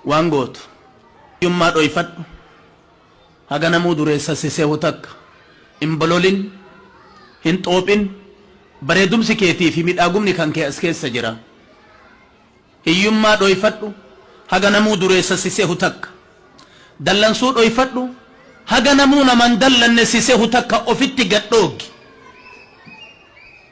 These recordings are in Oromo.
Waan gootu hiyyummaa dhoyfadhu haga namuu dureessa si sehu takka hin bololin hin xoophin bareedumsi keetii fi midhaagumni kan kee as keessa jira hiyyummaa dhoyfadhu haga namuu dureessa si sehu takka dallansuu dhoyfadhu haga namuu nama hin dallanne si sehu takka ofitti gad dhooggi.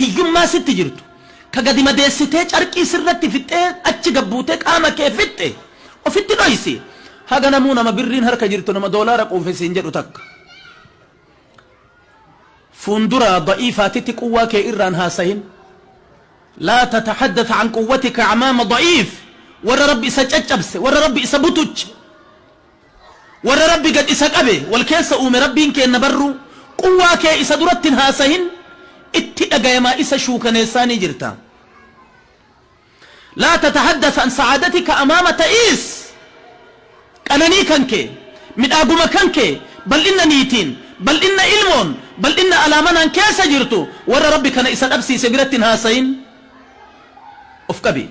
hiyyummaa sitti jirtu, ka gadi madeessitee carqii sirratti fixxee achi gad buutee qaama kee fixxe ofitti dhoysi. Haga namuu nama birriin harka jirtu nama doolaara quufe siin jedhu takka. Fuundura da'iifaatitti quwwaa kee irraan haasahin. Laa tatahaddath an quwwatika amaama da'iif. Warra Rabbi isa caccabse, warra Rabbi isa butuche. Warra Rabbi gad isa qabe, wal keessa uume Rabbiin keenna barruu, quwwaa kee isa duratti hin haasahin, itti dhagayamaa isa shuukaneessaa ni jirta. Laa tatahaddath an sa'aadatika amaama ta'iis, qananii kan kee, midhaaguma kan kee, bal'inna niitiin, bal'inna ilmoon, bal'inna alaa manaan keessa jirtu warra Rabbi kana isa dhabsiise biratti hin haasahin, of qabi.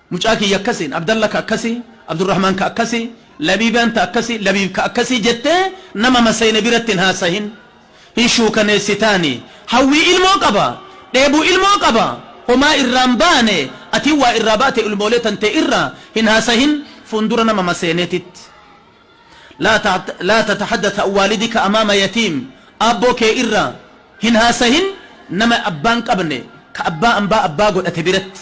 Mucaa kiyya akkasi, Abdalla ka akkasi, Abdurrahman ka akkasi, Labiibaan ta akkasi, Labiib ka akkasi jettee nama masayne biratti hin haasahin. Hin shuukaneessitaani. Hawwii ilmoo qaba. Dheebu ilmoo qaba. Homaa irraa hin baane. Atii waa irraa baate ilmoolee tantee irra hin haasahin. Fuundura nama maseenetitti. Laa tatahaddath an waalidika amaama yatiim. Aabboo kee irra hin haasahin nama abbaa hin qabne, ka abbaa ambaa abbaa godhate biratti.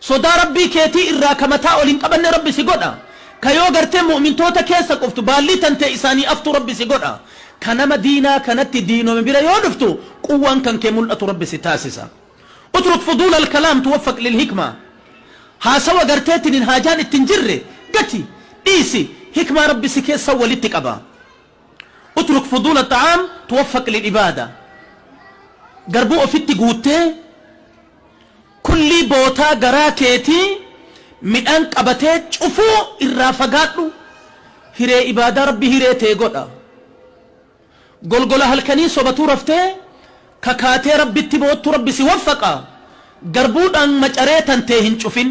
Sodaa Rabbii keetii irraa ka mataa ol hin qabanne Rabbi si godha, ka yoo gartee mu'mintoota keessa quftu baallii tantee isaanii aftu Rabbi si godha, ka nama diinaa kanatti diinome bira yoo dhuftu quwwaan kan kee mul'atu Rabbi si taasisa. Utruk fuduula al-kalaam tuwaffaq lil-hikmaa Haasawa gartee tinin haajaan itti hin jirre gati, dhiisi, hikmaa Rabbi si keessa walitti qaba. Utruk fuduula xa'aam tuwaffaq lil'ibaada Garbuu ofitti guuttee kullii bootaa garaa keetii midhaan qabatee cufuu irraa fagaadhu Hiree ibaadaa Rabbi hiree tee godha Golgola halkanii sobatuu raftee kakaatee Rabbitti boottu Rabbi si waffaqa Garbuu dhaan macaree tan tee hin cufin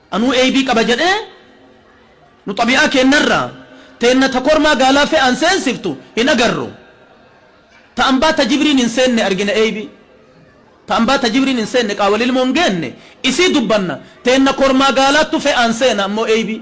Anuu eybii qaba jedhee nu xabi'aa keennarraa teenna ta kormaa gaalaa fe'aan seensiftu hin agarru. Ta ambaa ta jibriin hin seenne argina eybii. Ta ambaa ta jibriin hin seenne qaawwa lilmoo hin geenne isii dubbanna teenna kormaa gaalaattu fe'aan seena ammoo eybii.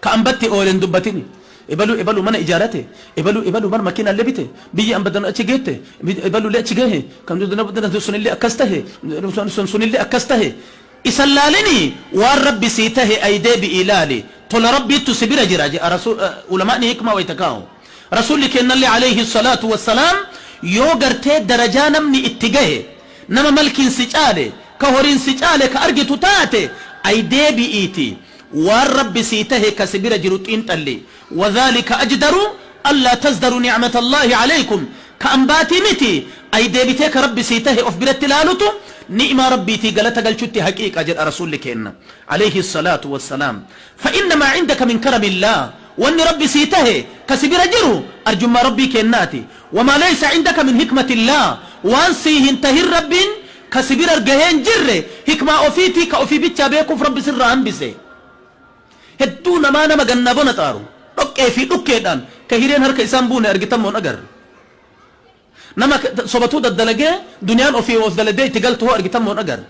Ka ambatti oole hin dubbatini. Ebalu ebalu mana ijaarate, ebalu ebalu bar makiinaalle bite, biyyi amba danu achi geette, ebalulle achi gahe, kan sunille akkas tahe, sun sunille akkas tahe. Isa hin laalini, waan Rabbi sii tahe ayi deebi'ii laali. Tola Rabbiittu si bira jira je'a Rasuul, Ulama'ni hikmaa wayta kaa'u. Rasuulli keennalle aleyhi salaatu wa salaam yoo gartee darajaa namni itti gahe, nama malkiin si caale, ka horiin si caale ka argitu taate, ayi deebi'iitii Waan Rabbi sii tahe ka si bira jiru xiinxalli. Wadhaalika ajdaru allaa tazdaru nicmata Allaahi calaykum. Ka ambaatii miti, ay deebitee ka Rabbi sii tahe of biratti laalutu ni'maa Rabbiitii galata galchutti haqiiqa jedha Rasuulli keenna, alayhi as-salaatu was-salaam. Fa inna maa cindaka min karami Allaah, wanni Rabbi sii tahe ka si bira jiru arjummaa Rabbii keennaati. Wa maa laysa cindaka min hikmati Allaah, waan sii hin tahin Rabbiin ka si bira gahee hin jirre hikmaa ofiitii ka ofii bichaa beekuuf Rabbi sirraa hambise. Hedduu namaa nama gannaa bona xaaru, dhoqqee fi dhukkeedhaan ka hireen harka isaan buune argitan moo hin agarre? Nama sobatuu daddalagee duniyaan ofii of daladee itti galtu hoo argitan moo hin agarre?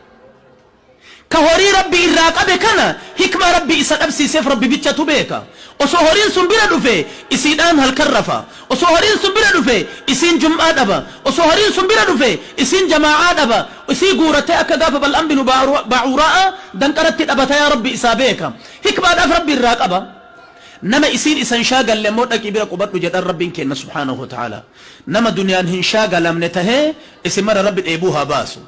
Ka horii Rabbi irraa qabe kana hikmaa Rabbi isa dhabsiiseef Rabbi bichatu beeka. Osoo horiin sun bira dhufe isiidhaan halkan rafa. Osoo horiin sun bira dhufe isiin jum'aa dhaba. Osoo horiin sun bira dhufe isiin jamaa'aa dhaba. Isii guuratee akka gaafa Bal'aam binu Ba'uura'aa danqaratti dhabata yaa Rabbi isaa beeka. Hikmaadhaaf Rabbi irraa qaba. Nama isiin isa hin shaagalle ammoo dhaqii bira qubadhu jedhaan Rabbiin keenna subhaanahu wa ta'aalaa. Nama duniyaan hin shaagalamne tahee isin mara Rabbi dheebuu haa baasu.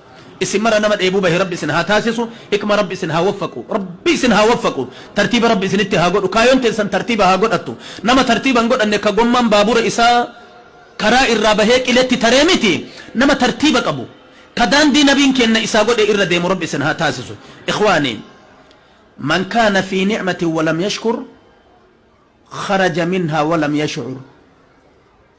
Isin mara nama dheebuu bahe rabbi isin haa taasisu hikma rabbi isin haa waffaqu rabbi isin haa waffaqu tartiiba rabbi isinitti haa godhu kaayoon teessan tartiiba haa godhattu nama tartiiba hin godhanne ka gommaan baabura isaa karaa irraa bahee qiletti taree miti nama tartiiba qabu ka daandii nabiin keenna isaa godhe irra deemu rabbi isin haa taasisu ikhwaani man kaana fii ni'matin walam yashkur kharaja minhaa walam yash'ur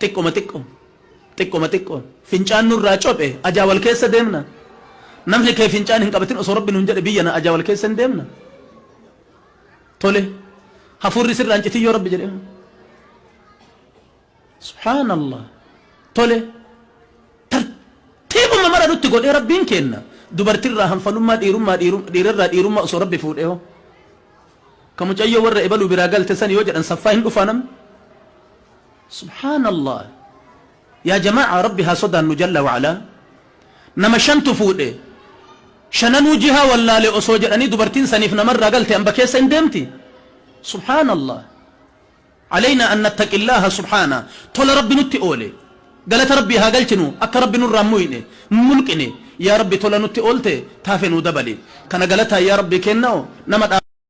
Xiqqoma xiqqoon Xiqqoma xiqqoon Fincaan nurraa cophe Ajaa wal keessa deemna Namni kee fincaan hin qabatin Osoo Rabbi nuun jedhe Biyya na Ajaa wal keessa hin deemna Tole Hafuurri sirraa hin citin yoo Rabbi jedhe Subhaanallah Tole Tartiibuma mara nutti godhee Rabbiin keenna Dubartirraa hanfalummaa dhiirummaa dhiirarraa dhiirummaa osoo Rabbi fuudhe hoo Ka mucayyoo warra ebaluu biraa galte san yoo jedhan saffaa hin dhufaa namni Subhaan Allah Yaa jama'aa Rabbi haa sodaannu jalla wa alaa Nama shantu fuudhe Shananuu jihaa wallaale osoo jedhanii dubartiin saniif namarraa galte amba keessa hin deemti Subhaan Allah Aleynaa an nattaqillaaha subhaana Tola Rabbi nutti oole Galata Rabbii haa galchinu akka Rabbi nurraa hin muyne hin mulqine Yaa Rabbi tola nutti oolte taafe nuu dabali Kana galataa yaa Rabbi keennao nama